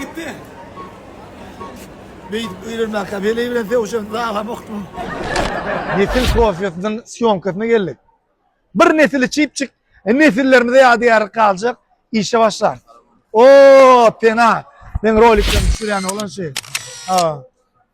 Gitdi. Beýdip öýlenmäkä weli bilen sögüşen zalam okdum. Nesil kofiýasynyň sýomkasyna geldik. Bir nesili çypjyk, nesillerimize ýadygärlik galjak işe başlarys. O, pena! Meň roliklerimi düşürýän oglan şeýle.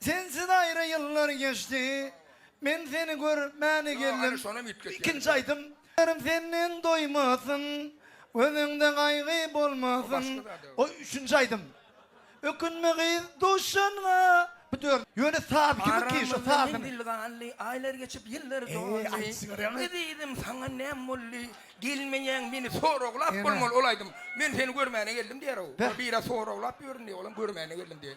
Sensiz aýra ýyllar geçdi, Men seni görmäne geldim. Ikinji aýdym. Gözlerim senden doýmasyn, Gözüňde gaýgy bolmasyn. Goý, üçünji aýdym. Ökünme gyz duşanňa, Bu dör. Ýöne saz kimiň ki şo sazyny. Aramyzda menzil galdy, Aýlar geçip ýyllar doldy. Ezizim saňa näm boldy, Gelmeýäň meni soraglap bolmaly. Ol aýdym. Men seni görmäne geldim diýer-ow. Biri soraglap ýörün diýip, olam görmäne geldim diýer.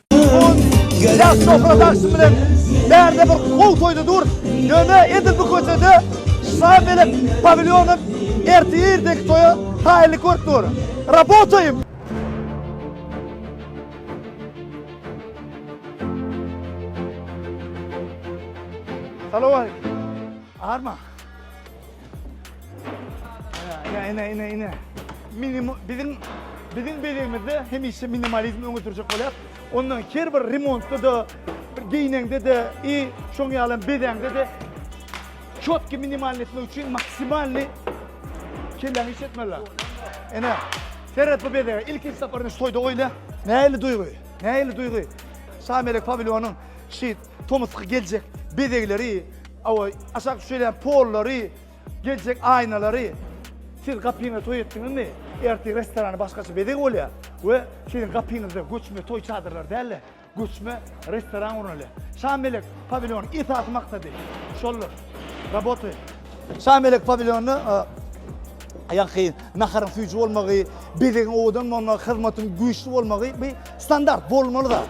Ýaş şöhratagşym bilen bärde bir gowy toýda dur. Ýöne edil bu köçede şam bilen pawilýonyň ertir-irdeki toýa haýyly görüp dur. Rabotaýym! Salam aleykum. Arma. Ine, ine, ine, ine. Minim, bizim, bizim belegimizde hemişe minimalizm öňe sürjek bolýar. Ondan her bir remontda da, bir geýneňde de, i şoň ýalam bezeňde de çotki minimalny etmek üçin maksimalny kelläňi iş etmeli. Ene, seret bu bezege. Ilkinji saparyny şu toýda goýla. Nähili duýgy? Nähili duýgy? Şamelek pawilyonyň şit Tomusky geljek bezegleri, awa, aşak düşelýän pollary, geljek aýnalary siz gapyňyza toý etdiňizmi? Ertir restorany başgaça bezeg bolýar we siziň gapyňyzda göçme toý çadyrlary däl-de, göçme restoran gurnaly. Şamelek pawilýonyň esasy maksady şoldur. Работаем. Şamelek pawilýony ýa-da naharyň süýji bolmagy, bezegiň owadan bolmagy, hyzmatyň güýçli bolmagy bu standart, bolmaly zat.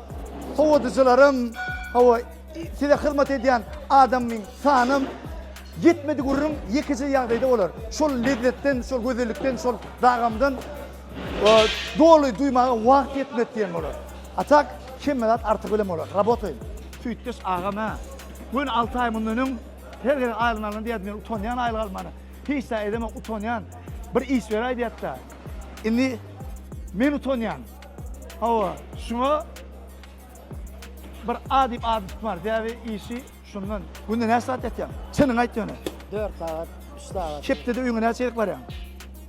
Howadyjylarym, hawa, size hyzmat edýän adamyň sanam ýetmedi gürrüň, ýekeje ýagdaýda bolar. Şol lezzetden, şol gözellikden, şol dagamdan doly duýmaga wagt ýetmedi diýen bolar. A tak, hemme zat artygy bilen bolar. Rabotaýyn! Süýtdeş agam-a, göni alty aý mundan öň her gezek aýlygyny alanda diýýärdi, men utanýan aýlyk almana, hiç zat edemok, utanýan, bir iş beräý diýýärdi-de, indi men utanýan. Hawa, şuňa bir A diýip at tutmar. Sebäbi işi şundan. Günde näçe sagat ýatýaň? Çynyňy aýt ýöne. Dört sagat, üç sagat. Hepdede öýüňe näçe gezek barýaň?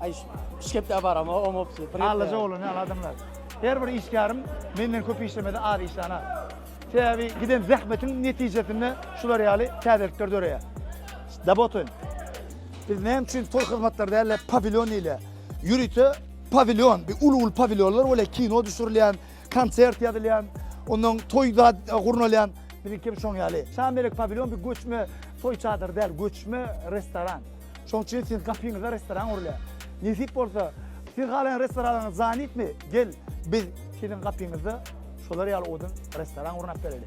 Aý, üç hepde baram, o omopsy. Allaja bolany ýaly adamlar. Her bir işgärim menden köp işlemese az işlana. Sebäbi giden zähmetiň netijesinde şular ýaly täzelikler döreýär. Dabotoň. Biz näme üçin tol hyzmatlary däl-de pawilýon diýilýär? Ýörite pawilýon, bir uly-uly pawilýonlar bolýar, kino düşürilýän, konsert ýazylýan, onnoň toý zat gurnalýan, biziňki hem şoň ýaly. Şamelek pawilýon bir göçme toý çadyry däl, göçme restoran. Şoň üçin siziň gapyňyza restoran gurulýar. Nesip bolsa, siz halaýan restoranyňyz zanitmi, gel, biz siziň gapyňyzda şolar ýaly odun restoran gurnap bereli.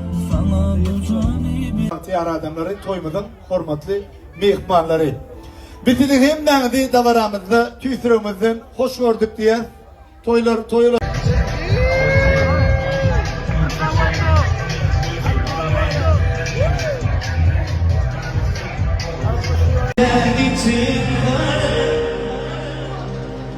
Bagtyýar adamlary, toýumyzyň hormatly myhmanlary! Biz sizi hemmäňizi dabaramyzda tüýs ýüregimizden hoş gördük diýýäs. Toýlar toýa